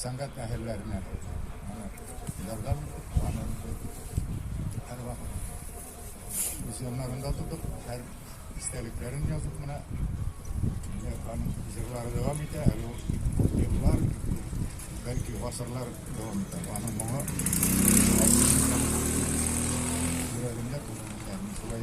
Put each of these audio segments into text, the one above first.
сәнгать әһелләренә ярдәм итеп, аны һәрвакыт үз яннарында тотып, һәр истәлекләрен язып менә аның җырлары дәвам итә, әле ул күп еллар, бәлки гасырлар дәвам итә. Аның моңы йөрәгемдә күңелемдә, мин шулай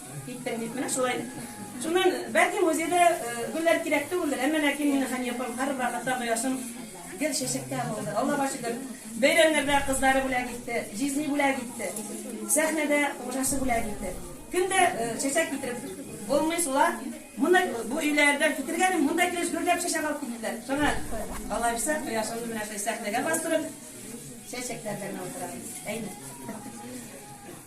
Киттең бит, менә шулай. Шуннан, бәлки, музейда гөлләр кирәк түгелдер, әмма ләкин мине Хәния апам һәрвакыт ата кояшым гел чәчәктә булды. Аллага шөкер, бәйрәмнәрдә кызлары бүләк итте, җизни бүләк итте, сәхнәдә хуҗасы бүләк итте. Көн дә чәчәк китереп булмый шулай. Монда, бу өйләрдән китергәнем, монда килеш гөрләп чәчәк алып киттеләр. Шуңа, алайса, кояшымны менә шулай сәхнәгә бастырып, чәчәкләр белән утырам. Әйе.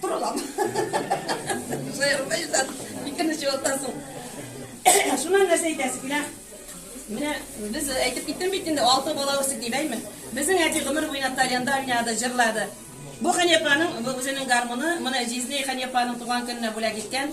Торалам. Шаярма Илдар, икене чуалтасың. Шуннан нәрсә әйтәсе килә? Менә без әйтеп киттем бит инде, алты бала үстек дип, әйме? Безнең әти гомер буена тальянда уйнады, җырлады. Бу Хәнипаның, бу үзенең гармуны, моны җизнәй Хәнипаның туган көненә бүләк иткән.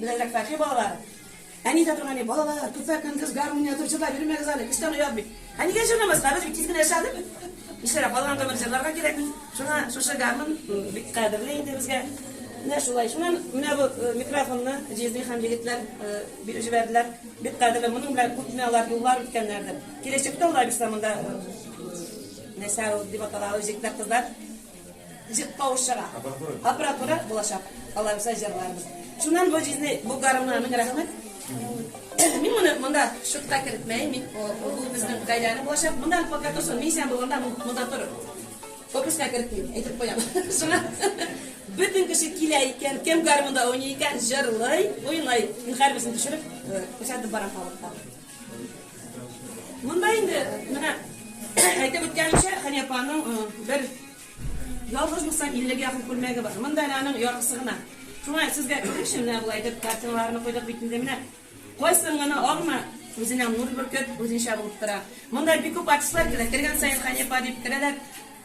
Беләзәктәге балалар, Әни дә торган, Балалар, көпә көндез гармун ятып җырлап йөрмәгез әле, көчтән оят бит. Ә нигә җырламаска, без бит тиз генә эшләдек. Нишләргә, калган гомер җырларга кирәкми. Шуңа шушы гармун бик кадерле инде безгә. Менә шулай. Шуннан менә бу микрофонны җизни хан егетләр биреп җибәрделәр. Бик кадерле, моның белән күпме алар юллар үткәннәрдер. Киләчәктә алар бирса монда Нәсәү дип атала ул җегетләр, кызлар. Җыр тавышлыра. Аппаратура булачак. Алар безгә җырларбыз. Шуннан бу җизни, бу гармунга мең рәхмәт. Мин моны монда шутка кертмәем. Мин бу безнең гаиләне булачак. Монда пока торсын. Мин исән булганда монда торыр. Фокуска кертмим, әйтеп куям. Шуңа бөтен кеше килә икән, кем гармунда уйный икән, җырлый, уйный. Мин һәрберсен төшереп, күрсәтеп барам халыкка. Монда инде менә әйтеп үткәнемчә, Хәния апаның э, бер ялгыз булсам 50 га якын күлмәге бар. Монда әле аның яртысы гына. Шуңа сезгә күренче менә болай итеп картиналарны куйдык бит инде менә. Кайсын гына алма үзенә нур бөркеп, үзенчә булып тора. Монда бик күп артистлар килә, кергән саен Хәния апа дип керәләр.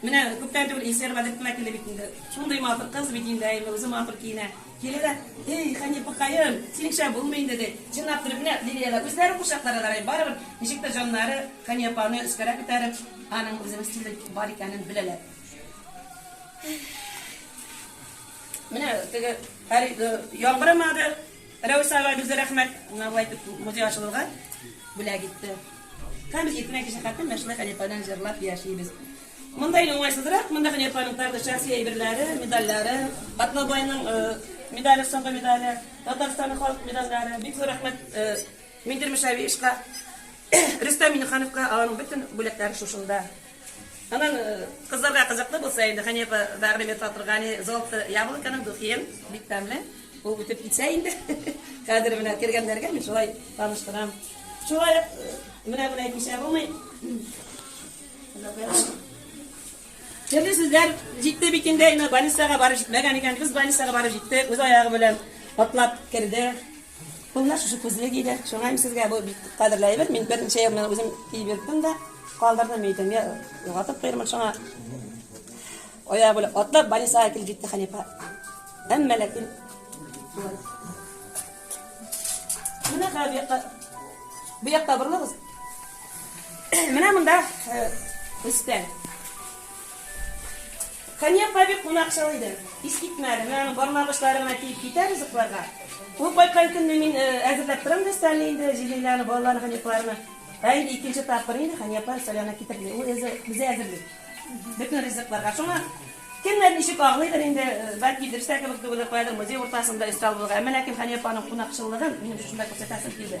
Менә күптән түгел Илсөяр Бәдретдин килде бит инде. Шундый матур кыз бит инде, әйме, үзе матур киенә. Киләләр, Эй, Хәнипекаем, синеңчә булмый инде, ди. Чынлап көлеп кенә Лилиягә үзләрен кочакларга ярый, барыбер, ничектер җаннары Хәни апаны өскәрәк күтәреп, аның үзенең стиле бар икәнен беләләр. Менә теге Хәри, яңгырамады, Рәүс абай безгә рәхмәт, менә болай итеп музей ачылырга бүләк итте. Һәм без иртәнге кичә хәтле менә шулай Хәни ападан җырлап яшибез. Монда инде уңайсызрак, монда Хәниф Фәнүктарның шәхси әйберләре, медальләре, Атнабайның медале, соңгы медале, Татарстанның халык медальләре. Бик зур рәхмәт Миндир Мөшәвиевичка, Рөстәм Миннехановка, аларның бөтен бүләкләре шушында. Анан кызларга кызыклы булса инде, Хәнифа Бәгърим Фатыргани, Золото яблоконың духин, бик тәмле. Ул үтеп китсә инде, хәзер менә кергәннәргә мин шулай таныштырам. Шулай ук менә-менә әйтмичә булмый. Төрле сүзләр җитте бит инде, әйме, больницага барып җитмәгән икән, кыз больницага барып җитте, үз аягы белән атлап керде. Кулына шушы күзле киде, шуңа им сезгә бу бик кадерле әйбер, мин берничә ел мен үзем киеп йөрттем дә, калдырдым идем, я югатып куйырмын, шуңа аягы белән атлап больницага килеп җитте Хәнифа. Әмма ләкин Менә бу якта бу якта борылыгыз. Менә монда өстә. Хәния апа бик кунакчыл иде. Ис китмәде. Менә аның бармак очлары гына тиеп китә ризыкларга. Ул кайткан көнне мин әзерләп торам да өстәлне инде, җилиләрне, балаларны, хәнифларны. Ә инде икенче тапкыр инде Хәния апа өстәл янына китерде. Ул үзе безгә әзерли. Бөтен ризыкларга. Шуңа кемнәр ничек аңлыйдыр инде, бәлки дөрестә кебек түгелдер, каядыр музей уртасында өстәл булырга. Әмма ләкин Хәния апаның кунакчыллыгын минем шушында күрсәтәсем килде.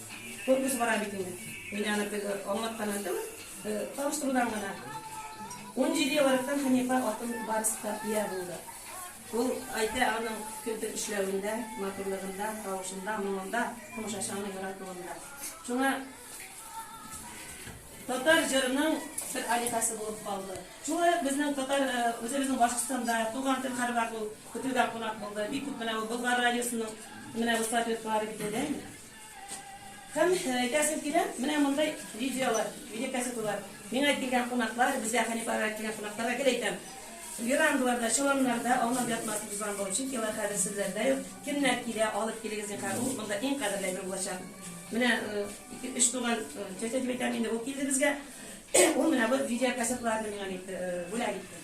Конкурс бара бит инде. Мин аны теге аңлаттан әйтәм. Таныштырудан гына. Унҗиде ел рәттән Хәнифә атын барыста ия булды. Ул әйтә аның кентеп эшләвендә, матурлыгында, тавышында, моңында, комшашаны яратуында. Шуңа татар җырының бер алихасы булып калды. Шулай ук безнең татар үзебезнең Башкортстанда туган тел хәрбәр ул көтелгән кунак булды. Бик күп менә ул Болгар радиосының менә бу статуэткалары бит әйдә инде. Һәм әйтәсем килә, менә мондый видеолар, видеокассеталар, миңа килгән кунаклар, безгә Хәниф агага килгән кунакларга гел әйтәм, верандаларда, чоланнарда аунап ятмасын без аңлау өчен, алар хәзер сезләрдә юк, кемнәр килә, алып килегез, зинһар, ул монда иң кадерле әйбер булачак. Менә ике, өч туган тетя дип әйтәм инде, ул килде безгә, ул менә бу видеокассеталарны миңа бүләк итте.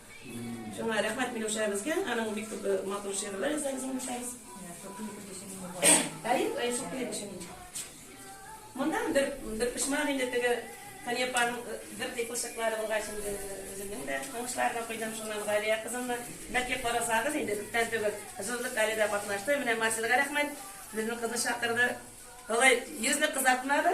Шуңа рәхмәт Миләүшәбезгә, аның бик күп матур шигырьләр яза безнең Миләүшәбез. Әйе, әйе, шул клип өчен. Монда бер бер пишман инде теге Канепан бер ди кушыклары булгач инде үземнең дә уңышлар да куйдым шуннан Галия кызымны. Бәлки карасагыз инде күптән түгел җырлык әле дә катнашты. Менә Марселга рәхмәт. Безнең кызны чакырды. Алай йөзне кызартмады.